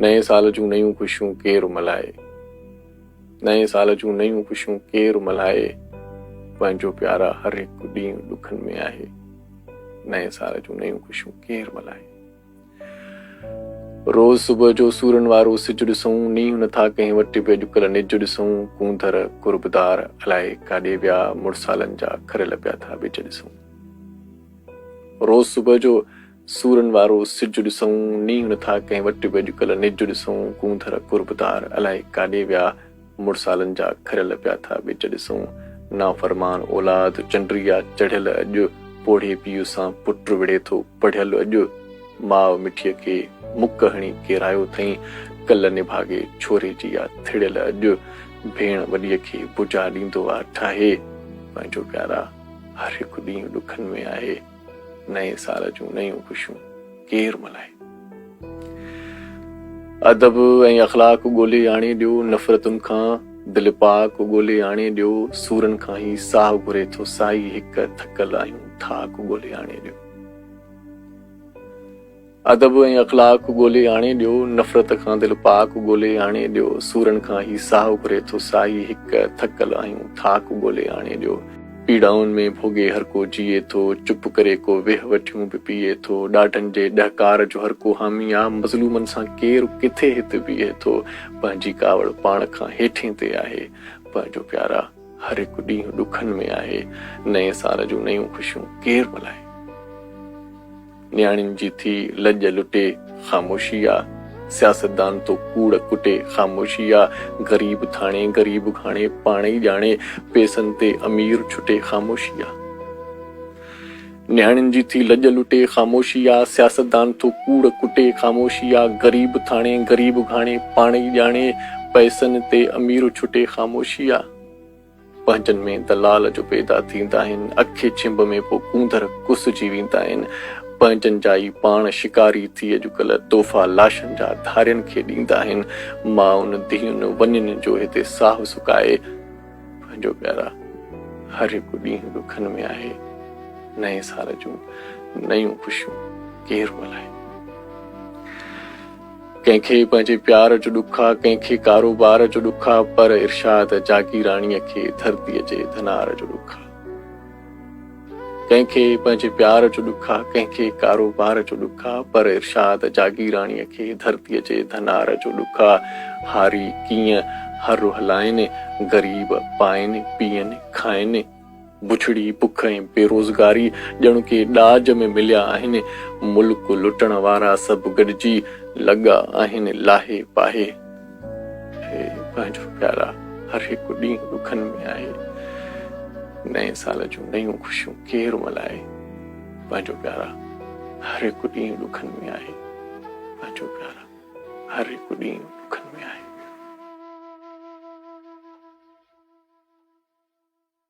نئين سال جون نيون خوشيون ڪير ملهائي نئين سال جون نيون خوشيون ڪير ملهائي پنهنجو پيارا هر هڪ ڏينهن ڏکن ۾ آهي نئين سال جون نيون خوشيون ڪير ملهائي روز صبح جو سورن وارو سج ڏسون نينهن نٿا ڪنهن وٽ به اڄڪلهه نج ڏسون ڪونڌر قربدار الائي ڪاڏي ويا مڙسالن جا کريل پيا ٿا ٻج ڏسون روز صبح جو سورن وارو سج ڏسئون، نينهن نٿا ڪنهن وٽ به اڄڪلهه نج ڏسئون، ڪونڌر قربدار الائي ڪاڏي ويا، مڙسالن جا کريل پيا ٿا ٻج ڏسئون، نافرمان اولاد چنڊري آ چڙهيل اڄ، پوڙهي پيء سان پٽ وڙهي ٿو پڙهيل اڄ، ماء مٺيء کي مڪ هڻي ڪيرايو ٿئين، ڪل نڀاڳي ڇوري جي آ ٿڙيل اڄ، ڀيڻ وڏيء کي بجا ڏيندو آ ٺاهي، پنهنجو پيارا هر هڪ ڏينهن ڏکن ۾ آهي. نئين سال جون نيون خوشيون ڪير ملهائي. ادب ۽ اخلاق ڳولي آڻي ڏيو، نفرتن کان دل پاڪ ڳولي آڻي ڏيو، سورن کان هي ساهه گهري ٿو سائي، هڪ ٿڪل آهيون ٿاڪ ڳولي آڻي ڏيو. ادب ۽ اخلاق ڳولي آڻي ڏيو، نفرت کان دل پاڪ ڳولي آڻي ڏيو، سورن کان هي ساهه اڀري ٿو ساهي هڪ، ٿڪل آهيون ٿاڪ ڳولي آڻي ڏيو، پيڙائن ۾ ڀوڳي هر ڪو جيئي ٿو، چپ ڪري ڪو ويهه وٺيون به پيئي ٿو، ڏاڍن جي ڏهڪار جو هر ڪو حامي آ، مظلومن سان ڪير ڪٿي هت بيهي ٿو، پنهنجي ڪاوڙ پاڻ کان هيٺين تي آهي، پنهنجو پيارا هر هڪ ڏينهن ڏکن ۾ آهي، نئين سال جون نيون خوشيون ڪير ملهائي. نياڻين جي ٿي لڄ لٽي خاموشي آ، سياستدان تو ڪوڙ ڪٽي خاموشي آ، غريب ٿاڻي غريب گهاڻي پاڻ ئي ڄاڻي، پيسن تي امير ڇٽي خاموشي آ. نياڻين جي ٿي لڄ لٽي خاموشي آ، سياستدان تو ڪوڙ ڪٽي خاموشي آ، غريب ٿاڻي غريب گهاڻي پاڻ ئي ڄاڻي، پيسن تي امير ڇٽي خاموشي آ. پنهنجن ۾ دلال جو پيدا ٿيندا آهن، اکي ڇنڀ ۾ پوء ڪونڌر ڪسجي ويندا آهن، پنهنجن جا ئي پاڻ شڪاري ٿي اڄڪلهه تحفا لاشن جا ڌارين کي ڏيندا آهن، مائن، ڌيئن، ونين جو هتي ساهه سڪائي پنهنجو پيارا هر هڪ ڏينهن ڏکن ۾ آهي، نئين سال جون نيون خوشيون ڪير ملهائي. ڪنهن کي پنهنجي پيار جو ڏک آ، ڪنهن کي ڪاروبار جو ڏک آ، پر ارشاد جاگيراڻيء کي ڌرتيء جي ڌنار جو ڏک آ. ڪنهن کي پنهنجي پيار جو ڏک آ، ڪنهن کي ڪاروبار جو ڏک آ، پر ارشاد جاگيراڻيء کي ڌرتيء جي ڌنار جو ڏک آ. هاري ڪيئن هر رهلائين، غريب پائين، پيئن، کائين. بڇڙي، بک ۽ بيروزگاري ڄڻ ڪي ڏاج ۾ مليا آهن. ملڪ لٽڻ وارا سڀ گڏجي لڳا آهن لاهي پاهي. هي پنهنجو پيارا هر هڪ ڏينهن ڏکن ۾ آهي. نئين سال جون نيون خوشيون ڪير ملائي. پنهنجو پيارا هر هڪ ڏينهن ڏکن ۾ آهي. پنهنجو پيارا هر هڪ ڏينهن ڏکن ۾ آهي.